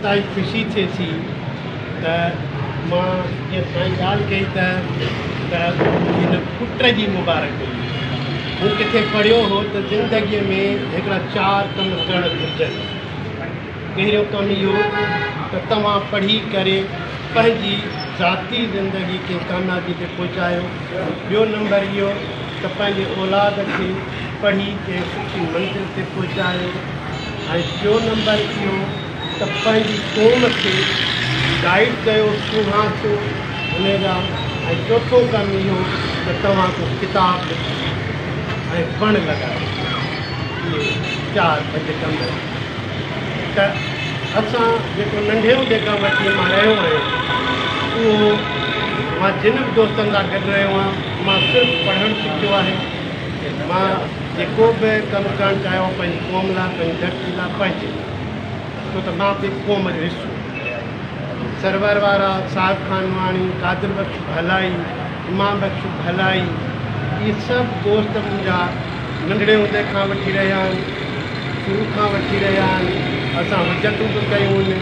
سائين خوشي ٿئي ٿي ته مان جيئن سائين ڳالهه ڪئي ته ته هن پٽ جي مبارڪ هئي مون ڪٿي پڙهيو هو ته زندگيء ۾ هڪڙا چار ڪم ڪرڻ گهرجن پهريون ڪم اهو ته توهان پڙهي ڪري پنهنجي ذاتي زندگي کي ڪاميابي تي پهچايو ٻيو نمبر اهو ته پنهنجي اولاد کي پڙهي ڪنهن سٺي منزل تي پهچايو ۽ ٽيون نمبر اهو ته پنهنجي قوم کي گائيڊ ڪيو سونهان سو انهي جا ۽ چوٿون ڪم اهو ته توهان ڪو ڪتاب لکو ۽ وڻ لڳايو اهي چار پنج ڪم ته اسان جيڪو ننڍي هوندي کان وٺي مان رهيو آهيان اهو مان جن به دوستن سان گڏ رهيو آهيان مان صرف پڙهڻ سکيو آهي مان جيڪو به ڪم ڪرڻ چاهيو پنهنجي قوم لاء پنهنجي ڌرتي لاء پنهنجي ڇو ته مان به قوم جو حصو سرور وارا صاحب خان نواڻي قادر بخش ڀلائي امام بخش ڀلائي اهي سڀ دوست منهنجا ننڍڙي هوندي کان وٺي رهيا آهن شروع کان وٺي رهيا آهن اسان هجتون به ڪيون آهن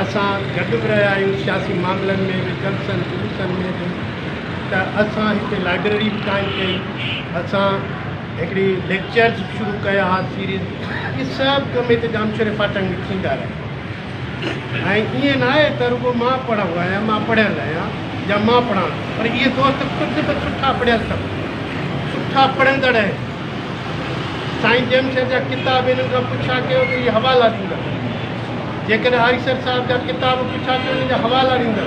اسان گڏ به رهيا آهيون سياسي معاملن ۾ به جلسن جلوسن ۾ به ته اسان هتي لائبريري به قائم ڪئي اسان هڪڙي ليڪچرز شروع ڪيا ها سيريز اهي سڀ ڪم هتي ڄامشوري فاٽڪ ۾ ٿيندا رهيا ۽ ائين نه آهي ته رڳو مان پڙهندو آهيان مان پڙهيل آهيان يا مان پڙهان ٿو پر اهي دوست خود به سٺا پڙهيل اٿم سٺا پڙهندڙ آهن سائين ڄامشوري جا ڪتاب هنن کان پڇا ڪيو ته اهي حوالا ڏيندا جيڪڏهن آريسر صاحب جا ڪتاب پڇا ته ان جا حوالا ڏيندا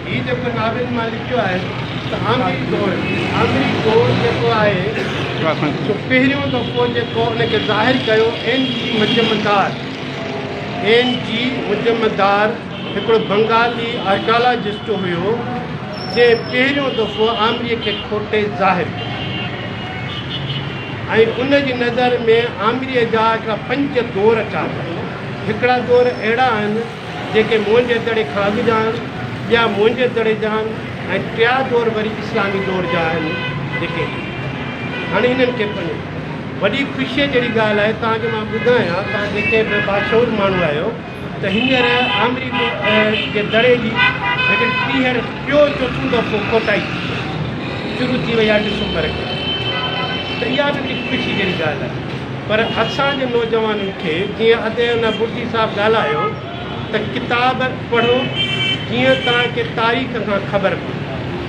هي جيڪو ناول مان لکيو آهي ته آمريڪ دور آمريڪ دور جيڪو آهي سو پهريون دفعو جيڪو ان کي ظاهر ڪيو N G Majumdar N G Majumdar هڪڙو بنگالي آرڪالاجسٽ هيو جنهن پهريون دفعو آمريڪ کي کوٽي ظاهر ڪيو ۽ ان جي نظر ۾ آمريڪ جا هڪڙا پنج دور چار هڪڙا دور اهڙا آهن جيڪي موهنجي دڙي کان اڳ جا آهن، ٻيا موهنجي دڙي جا آهن ۽ ٽيا دور وري اسلامي دور جا آهن جيڪي هاڻي هنن کي پنهنجو وڏي خوشيء جهڙي ڳالهه آهي تان جو مان ٻڌايان توهان جيڪي به باشعور ماڻهو آهيو ته هينئر آمري جي دڙي جي هڪڙي ٽيهر ٽيو چوٿون دفعو کوٽائي شروع ٿي وئي آهي ڊسمبر کان ته اها به هڪڙي خوشي جهڙي ڳالهه آهي. پر اسان جي نوجوانن کي جيئن اڌ ايونا بڙجي صاحب ڳالهايو ته ڪتاب پڙهو جيئن توهان کي تاريخ کان خبر پوي،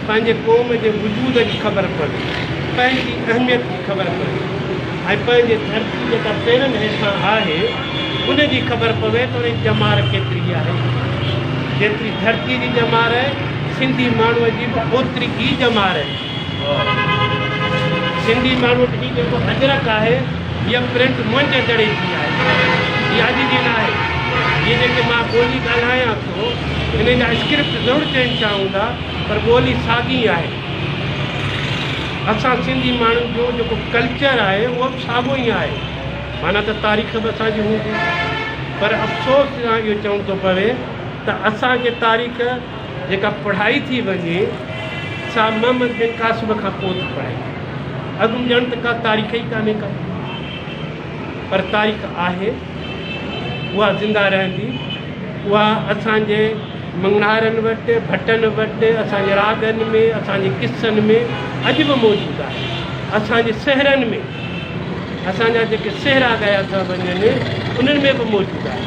پنهنجي قوم جي وجود جي خبر پوي، پنهنجي اهميت جي خبر پوي ۽ پنهنجي ڌرتي جيڪا پيرن هيٺان آهي ان جي خبر پوي ته ان جي ڄمار ڪيتري آهي. جيتري ڌرتي جي ڄمار سنڌي ماڻهوء جي به اوتري ئي ڄمار. سنڌي ماڻهو وٽ هي جيڪو اجرڪ آهي هيء پرنٽ منهنجي دڙي جي آهي. هي اڄ جي نه آهي. هيء جيڪي مان ٻولي ڳالهايان ٿو ان جا اسڪرپٽ ضرور چينج ٿيا هوندا پر ٻولي ساڳي ئي آهي. اسان سنڌي ماڻهن جو جيڪو ڪلچر آهي اهو به ساڳيو ئي آهي. معنيٰ ته تاريخ به اسان جي هوندي. پر افسوس سان اهو چوڻ ٿو پوي ته اسان جي تاريخ جيڪا پڙهائي ٿي وڃي سا محمد بن قاسم کان پوء ٿي پڙهائي وڃي. اڳ ڄڻ ته ڪا تاريخ ئي ڪانهي ڪا پر تاريخ آهي اها زنده رهندي اها اسان جي مڱڻهارن وٽ، ڀٽن وٽ، اسان جي راڳن ۾، اسان جي قصن ۾ اڄ به موجود آهي. اسان جي سهرن ۾. اسان جا جيڪي سهرا ڳايا ٿا وڃن انهن ۾ به موجود آهي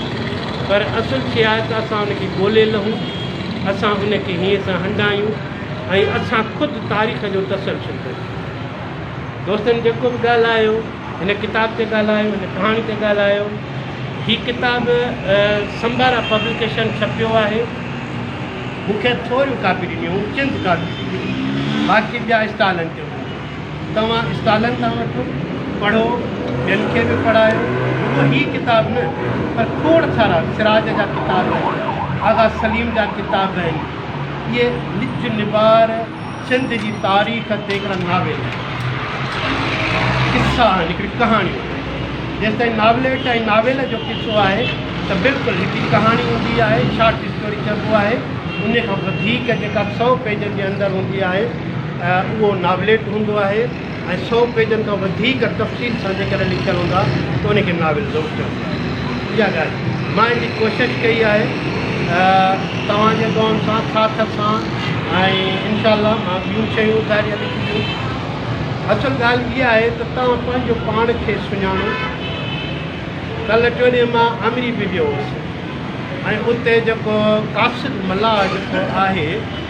پر اصل شيء آهي ته اسان ان کي ڳولي لهون، اسان ان کي هيئن سان هنڊايون ۽ اسان خود تاريخ جو تسلسل بڻيون. دوستن جيڪو به ڳالهايو، هن ڪتاب تي ڳالهايو، هن ڪهاڻي تي ڳالهايو. هي ڪتاب سمبارا پبلڪيشن ڇپيو آهي. مون کي ٿوريون ڪاپي ڏنيون هيون، چند ڪاپيون ڏنيون هيون، باقي ٻيا اسٽالن تي هوندا. توهان اسٽالن تان وٺو، پڙهو، ٻين کي به پڙهايو، رڳو هي ڪتاب نه پر کوڙ سارا سراج جا ڪتاب، آغا سليم جا ڪتاب آهن. اهي نج نبار سنڌ جي تاريخ تي هڪڙا ناول، قصا آهن، هڪڙي ڪهاڻي. جيستائين ناوليٽ ۽ ناول جو قصو آهي ته بلڪل هڪڙي ڪهاڻي هوندي آهي، شارٽ اسٽوري چئبو آهي، انهيء کان وڌيڪ جيڪا سئو پيجن جي اندر هوندي آهي، اهو ناوليٽ هوندو آهي ۽ سؤ پيجن کان وڌيڪ تفصيل سان جيڪڏهن لکيل هوندا ته ان کي ناول ضرور چئبو آهي. اها ڳالهه مان ان جي ڪوشش ڪئي آهي توهان جي دعائن سان ساٿ سان ۽ انشاء الله مان ٻيون شيون ظاهري لکنديس. اصل ڳالهه اها آهي ته توهان پنهنجو پاڻ کي سڃاڻو. ڪلهه ٽوڏينهن مان آمري به ويو هوس ۽ اتي جيڪو قاصد ملاح جيڪو آهي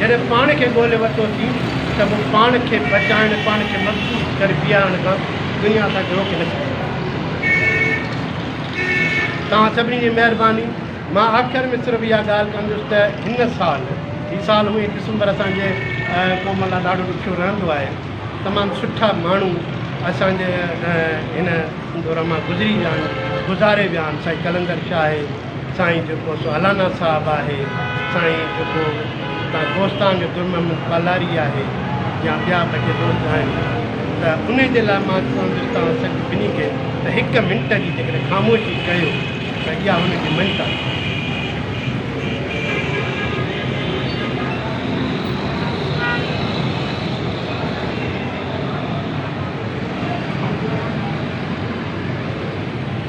جڏهن پاڻ کي ڳولي ورتو اٿئي ته پوء پاڻ کي بچائڻ، پاڻ کي مضبوط ڪري بيهارڻ کان دنيا اسان کي روڪي نه سگهندي. توهان سڀني جي مهرباني. مان آخر ۾ صرف اها ڳالهه ڪندس ته هن سال، هي سال هونئن ڊسمبر اسان جي قوم لاء ڏاڍو ڏکيو رهندو آهي، تمام سٺا ماڻهو اسان جي هن دور مان گذري ويا آهن، گذاري ويا آهن، سائين قلندر شاهه، سائين جيڪو سالانا صاحب آهي سائين جيڪو اتان گوستان جو گل محمد پالاري آهي يا ٻيا به جي دوست آهن ته ان جي لاء مان چوندس توهان سڀ ٻنهي کي ته هڪ منٽ جي جيڪڏهن خاموشي ڪيو ته اها هن جي منٽ آهي.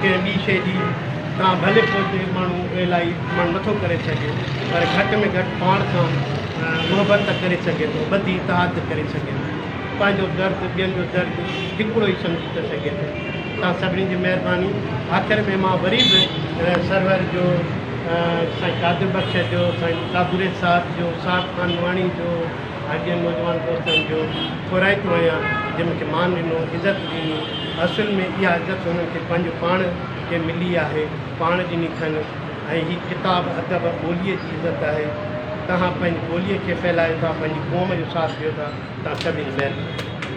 ڪنهن ٻي شيء جي تان ڀلي پوءتي ماڻهو ايلائي مڙ نٿو ڪري سگهي پر گهٽ ۾ گهٽ پاڻ کان محبت ته ڪري سگهي ٿو بدي اتحاد ته ڪري سگهي ٿو پنهنجو درد ٻين جو درد هڪڙو ئي سمجهي ته سگهي ٿو توهان سڀني جي مهرباني آخر ۾ مان وري به سرور جو سائين قادر بخش جو سائين ڪابوري صاحب جو صاحب خان واڻي جو آء جن نوجوان دوستن جو ٿورائتو آهيان، جن مون کي مان ڏنو، عزت ڏني، اصل ۾ اها عزت هنن کي پنهنجو پاڻ کي ملي آهي، پاڻ ڏني اٿن ۽ هي ڪتاب ادب ٻوليء جي عزت آهي. توهان پنهنجي ٻوليء کي ڦهلايو ٿا، پنهنجي قوم جو ساٿ ڏيو ٿا، توهان سڀني جي مهرباني.